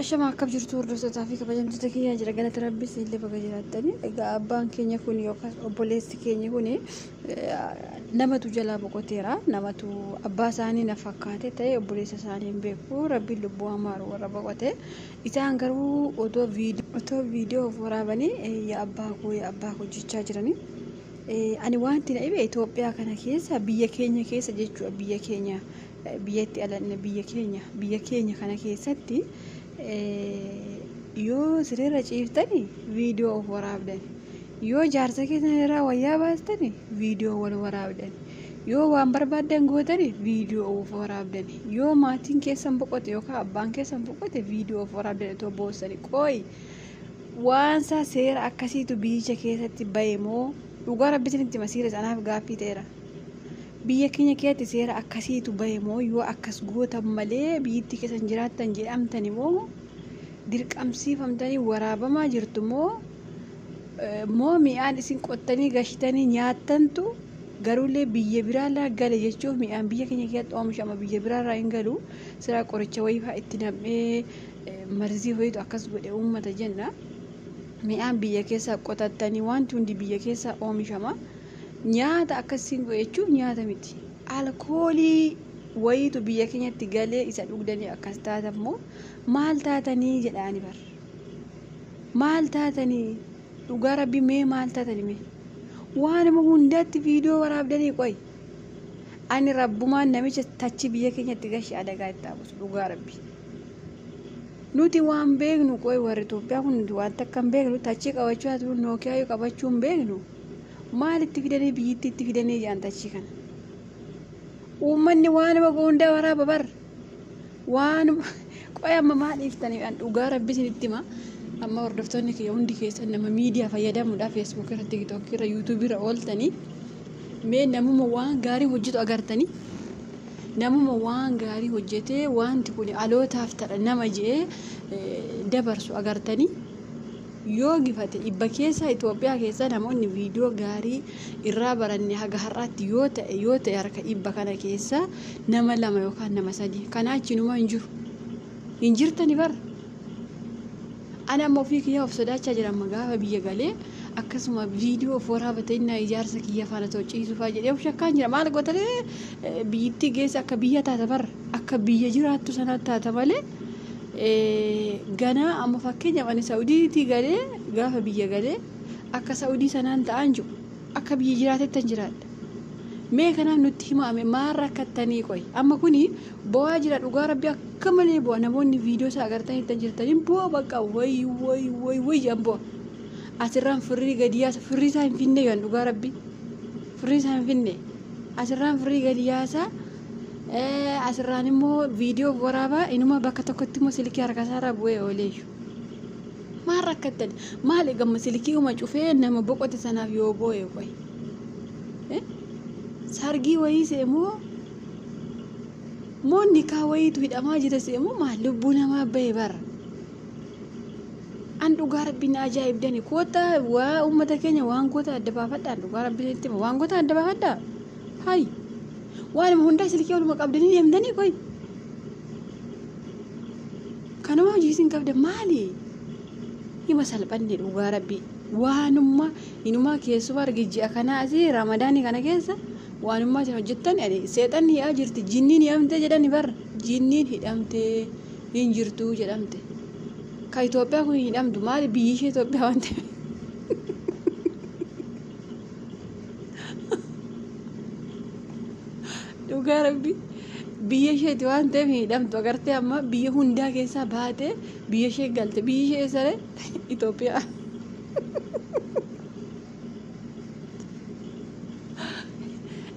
Ashama akkam jirtu hordoftoota fi kabajamtoota kiyyaa jira galata rabbi siille baga jiraattanii egaa abbaan keenya kun yookaan obboleessi keenya kun namatu jalaa boqoteera namatu abbaa isaanii na fakkaate ta'e obboleessa isaanii hin beeku rabbiin lubbuu amaaru warra boqote isaan garuu otoo viidiyoo otoo viidiyoo of waraabanii yaa abbaa koo yaa abbaa koo jechaa jiranii ani wanti na dhibe Itoophiyaa kana keessa biyya keenya keessa jechuudha biyya keenya biyyatti alanne biyya keenya biyya keenya kana keessatti yoo sireerra ciiftani viidiyoo of waraabdan yoo jaarsa keessan irraa wayyaa baastani viidiyoo wal waraabdan yoo waan barbaaddan gootani viidiyoo of waraabdan yoo maatiin keessan boqote yookaan abbaan keessan boqote viidiyoo of waraabdan otoo boossani qooyi waansaa seera akkasiitu biyyicha keessatti bahe moo dhugaa rabbi isinitti masiira sanaaf gaaffii ta'eera. Biyya keenya keessatti seera akkasiitu bahe moo yoo akkas gootan malee biyyittii keessan jiraattan jedhamtani moo dirqamsiifamtanii waraabamaa jirtu moo moo mi'aan isin qottanii gashitanii nyaattantu garuullee biyya biraarraa gale jechuuf mi'aan biyya keenya keessatti oomishama biyya biraarraa hin galu siraa qoricha wayiifaa itti nam'ee marzii ho'itu akkas godhe uummata jenna mi'aan biyya keessaa qotattanii wanti hundi biyya keessaa oomishama. Nyaata akkas isin godhe jechuun nyaata miti. Alkoolii wayiitu biyya keenyatti galee isa dhugdanii akkas taatan immoo maal taatanii jedhaani bar. Maal taatanii dhugaa rabbi mee maal taatani mee. Waanuma hundatti viidiyoo waraabdanii qoy. Ani rabbumaan namicha tachi biyya keenyatti gashi adagaa itti haabusu dhugaa rabbi. Nuti waan beeknu qoy warri Itoophiyaa kun nuti waan takka hin beeknu tachii qabachuu haa ta'u nookiyaa yoo qabachuu hin beeknu. Maal itti fidanii biyyittii itti fidanii jaan tachii kana. Uummanni waanuma goondaa waraaba bar. Waanuma qoy amma maal dhiiftanii an dhugaa rabbi isinitti hima. Amma hordoftoonni kiyya hundi keessan nama miidiyaa fayyadamuudha feesbuuk irra tiktook irra yuutuubii irra ooltanii mee namuma waan gaarii hojjetu agartanii namuma waan gaarii hojjetee wanti kun alootaaf tadha nama je'ee dabarsu agartanii. Yoo gifate ibba keessa Itoophiyaa keessa namoonni viidiyoo gaarii irraa baranne haga har'aatti yoo ta'e yoo ta'e harka ibba kana keessa nama lama yookaan nama sadii kanaa achi numa hin jiru. Hin jirtani bar. Ani amma ofii kiyyaa of sodaachaa jira amma gaafa biyya galee akkasuma viidiyoo of waraabate innaa ijaarsa kiyya faana ta'u ciisufaa jedhee of shakkaan jira maal gootanii biyyittii geessa akka biyya taata bar akka biyya jiraattu sanaatti taata malee ganaa amma fakkeenyaaf ani Sa'udiitii galee gaafa biyya galee akka Sa'udii sanaan ta'an jiru akka biyya jiraatettan jiraadha. Mee kanaaf nutti himaame maal rakkattanii qoy amma kuni bo'aa jira dhugaa rabbi akka malee bu'a namoonni viidiyoo isaa agartan ittan jirtaniin bu'a bakka way way way way jedhan bu'a. Asirraan firrii gadi yaasa firrii isaa hin finne yohan dhugaa rabbi firrii isaa hin finne asirraan firrii gadi yaasaa. Asirraan immoo viidiyoo waraabaa inuma bakka tokkotti immoo silkii harkasaarraa bu'ee ooleeyyu. Maal rakkattan? Maal egamma silkii uma cufee nama boqote sanaaf yoo boo'e qoy. Sargii wayii seemoo moo nikaa wayiitu hidhamaa jira seemoo maal lubbuu namaa bahe bara. An dhugaa rabbiin ajaa'ibdani koota waa uummata keenya waan goota adda baafadhaan dhugaa rabbiin itti waan goota adda baafadhaa. Hayi. Waanuma hundaa silkii oluma qabdanii deemtanii qoy. Kanuma hojii isin qabda maali? Hima salphanne dhugaa rabbii. Waanuma inumaa keessumaa argi ji'a kanaa asii ramadaanii kana keessa waanuma isin hojjettan ani seexanni hi'aa jirti jinniin hidhamtee jedhani bar jinniin hidhamtee hin jirtuu jedhamte. Ka Itoophiyaa kun hin hidhamtu maali biyyi ishee Itoophiyaa waan ta'eef. dhugaa rabbi biyya isheeti waan ta'eef hin hidhamtu agartee amma biyya hundaa keessaa baatee biyya ishee galte biyyi ishee eessaree Itoophiyaa.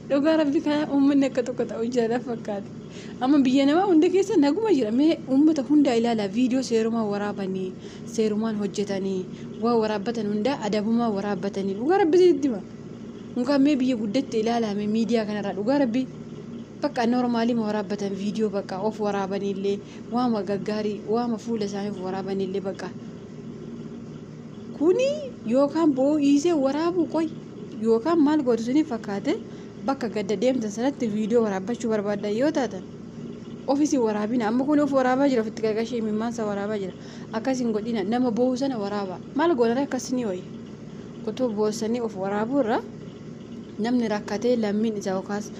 Dhugaa rabbi kana uummanni akka tokko ta'u jaalaf fakkaate. Amma biyya namaa hunda keessa naguma jira. Mee uummata hundaa ilaalaa viidiyoo seerumaan waraabanii, seerumaan hojjetanii, waa waraabbatan hundaa adabumaan waraabbatanii. Dhugaa rabbi sitti hima. Mukaan mee biyya guddatte ilaalaa mee miidiyaa kanarraa dhugaa rabbi. Bakka noormaalima waraabbatan viidiyoo bakka of waraabanillee waama gaggaarii waama fuula isaanii of waraabanillee bakka. Kuni yookaan boo'iisee waraabuu qoy yookaan maal gootu isiniif fakkaate. Bakka gadda deemtan sanatti viidiyoo waraabbachuu barbaaddan yoo taatan of isin waraabina amma kun of waraabaa jira ofitti qaqashee mimmaansa waraabaa jira akkas hin godhina nama boo'u sana waraabaa maal goonaree akkas ni wayya otoo boossanii of waraabuu irra namni rakkatee lammiin isaa yookaas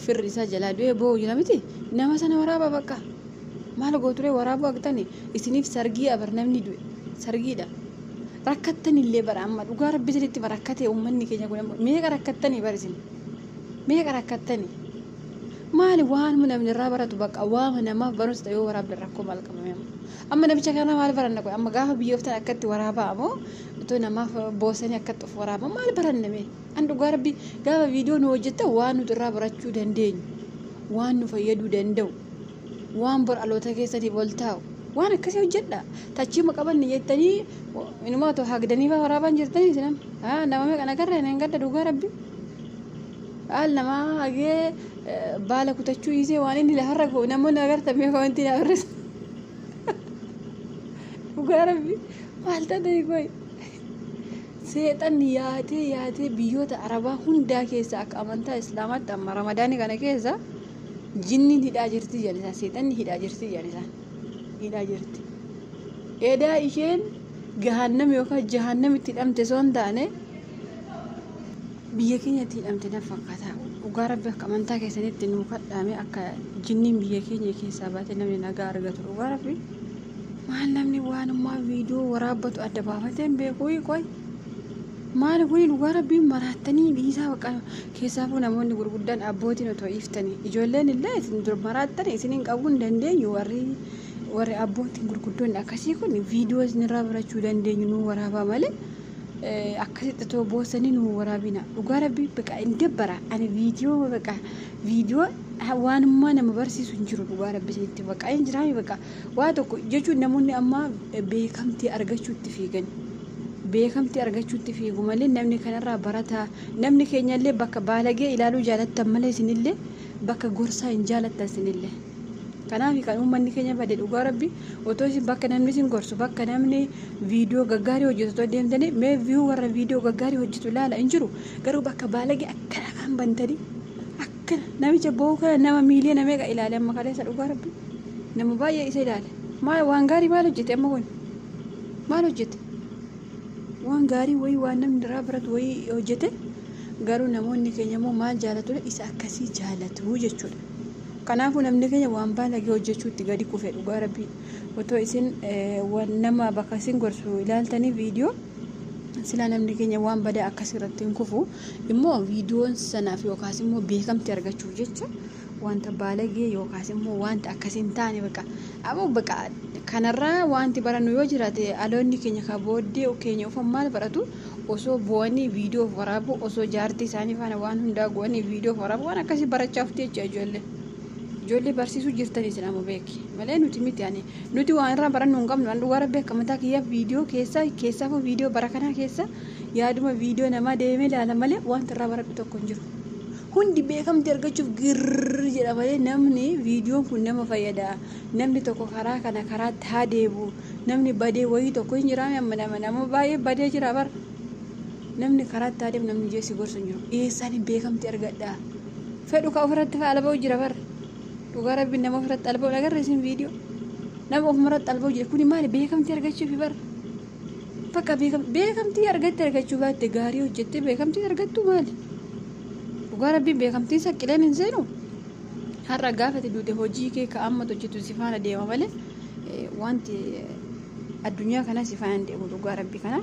firri isaa jalaa du'ee boo'u jira miti nama sana waraabaa bakka maal gooturee waraabuu agtani isiniif sargii abar namni du'e sargiidha. Rakkattanillee bara amma dhugaa rabbi isinitti bara rakkate ummanni keenya kun amma meeqa rakkattanii bara isin meeqa rakkattanii maali waanuma namni irraa baratu baqa waama namaaf barumsa ta'e yoo waraabdan rakkoo maal qabame amma amma namicha kana maal baranna qoy amma gaafa biyyooftan akkatti waraabaa amoo utuu namaaf boosanii akkatti of waraabaa maal baranna mee an dhugaa rabbi gaafa viidiyoo nu hojjettan waan nuti irraa barachuu dandeenyu waan nu fayyaduu danda'u waan bor aloota keessatiif ol taa'u waan akkasii hojjedha tachiima qabanne jettanii inumaa too hagdanii faa waraabaan jirtanii sinan haa nama meeqan agarra hin gadda dhugaa rabbi haal namaa hagee baala kutachuu dhiisee waan inni lafarra ga'u namoonni agartan mee komentii naa barreessa dhugaa rabbi maal taatee qoy seexan yaatee yaatee biyyoota arabaa hundaa keessa akka amantaa islaamaatti amma ramadaanii kana keessa Jinniin hidhaa jirti jedhan isaan seexanni hidhaa jirti jedhan isaan hidhaa jirti. Edaa isheen gahaannam yookaan jahannamitti hidhamte osoo hin taane biyya keenyatti hidhamte na fakkaata. Dhugaa rabbi akka amantaa keessanitti nuu kadhaame akka jinniin biyya keenya keessaa baate namni nagaa argatu dhugaa rabbi. Maal namni waan ammaa viidiyoo waraabbatu adda baafatee hin beeku qoy. Maal kuni dhugaa rabbiin maraattanii dhiisaa baqa Keessaafuu namoonni gurguddaan abbootiin otoo dhiiftani ijoolleen illee isin dur maraattani isinin qabuu hin dandeenyu warri warri abbootiin gurguddoonni akkasii kun viidiyoo isinirraa barachuu dandeenyu nuu waraabaa malee akkasitti otoo boossanii nuu waraabina dhugaa rabbii baqa hin dabbara ani viidiyoo baqa viidiyoo waanummaa nama barsiisu hin jiru dhugaa rabbii isinitti baqa hin jiraame baqa waa tokko jechuun namoonni ammaa beekamtii argachuutti fiigani. beekamtii argachuutti fiigu malee namni kanarraa barataa namni keenyallee bakka baalagee ilaaluu jaalattan malee isinillee bakka gorsaa hin jaalattan isinillee. Kanaaf kan uummanni keenya bade dhugaa rabbi otoo isin bakka namni isin gorsu bakka namni viidiyoo gaggaarii hojjetu otoo deemtanii mee viyuu warra viidiyoo gaggaarii hojjetu ilaala hin jiru garuu bakka baalagee akkana afaan bantanii Namicha boo'u kana nama miiliyoona meeqa ilaale amma kaleessa dhugaa rabbi nama baay'ee isa ilaale maal waan gaarii maal hojjete amma kun maal hojjete waan gaarii wayii waan namni irraa baratu wayii hojjete garuu namoonni keenya immoo maal jaalatu isa akkasii jaalatu jechuudha. Kanaafuu namni keenya waan baalagee hojjechuutti gadi kufe dhugaa rabbii otoo isin nama bakka isin gorsu ilaaltanii viidiyoo silaa namni keenya waan badaa akkasirratti hin kufu. immoo viidiyoon sanaaf yookaas immoo beekamti argachuuf jecha wanta baalagee yookaas immoo wanta akkas hin taane baqa aboo baqa kanarraa wanti barannu yoo jiraate aloonni keenya ka booddee keenya ufan maal baratu osoo bu'anii viidiyoof waraabuu osoo jaartii isaanii faana waan hundaa go'anii viidiyoof waraabuu waan akkasii barachaa ufti jecha ijoollee ijoollee barsiisuu jirtanii isin amma beeki malee nuti miti ani nuti waan irraa barannuu hin qabnu an dhugaa rabbi akka mataa kiyyaa viidiyoo keessaa keessaafuu viidiyoo bara kanaa keessaa yaaduma viidiyoo namaa deemee ilaala malee wanta irraa baradhu tokko hin jiru. Hundi beekamtii argachuuf girrrr jedha malee namni viidiyoon kun nama fayyada. Namni tokko karaa kana karaatti haa deemu. Namni badee wayii tokko hin jiraame amma nama nama baay'ee badee jira bara. Namni karaatti haa deemu namni ijee si gorsu hin jiru. Eessaan hin beekamtii argadha. Fedhu ka ofirratti fa'aa alba'u jira bara. Dhugaa rabbiin nama ofirratti alba'u agarra isin viidiyoo. Nama ofumarratti alba'u jira. Kuni maali beekamtii argachuufi bara. Bakka beekamtii argatte argachuu baatte gaarii hojjette beekamtii argattu maali? Dhugaa rabbiin beekamtii saqqileen hin seenu. Har'a gaafa itti duute hojii kee ka amma hojjetu si faana deema malee wanti addunyaa kanaa si faana hin deemu dhugaa rabbi kanaa.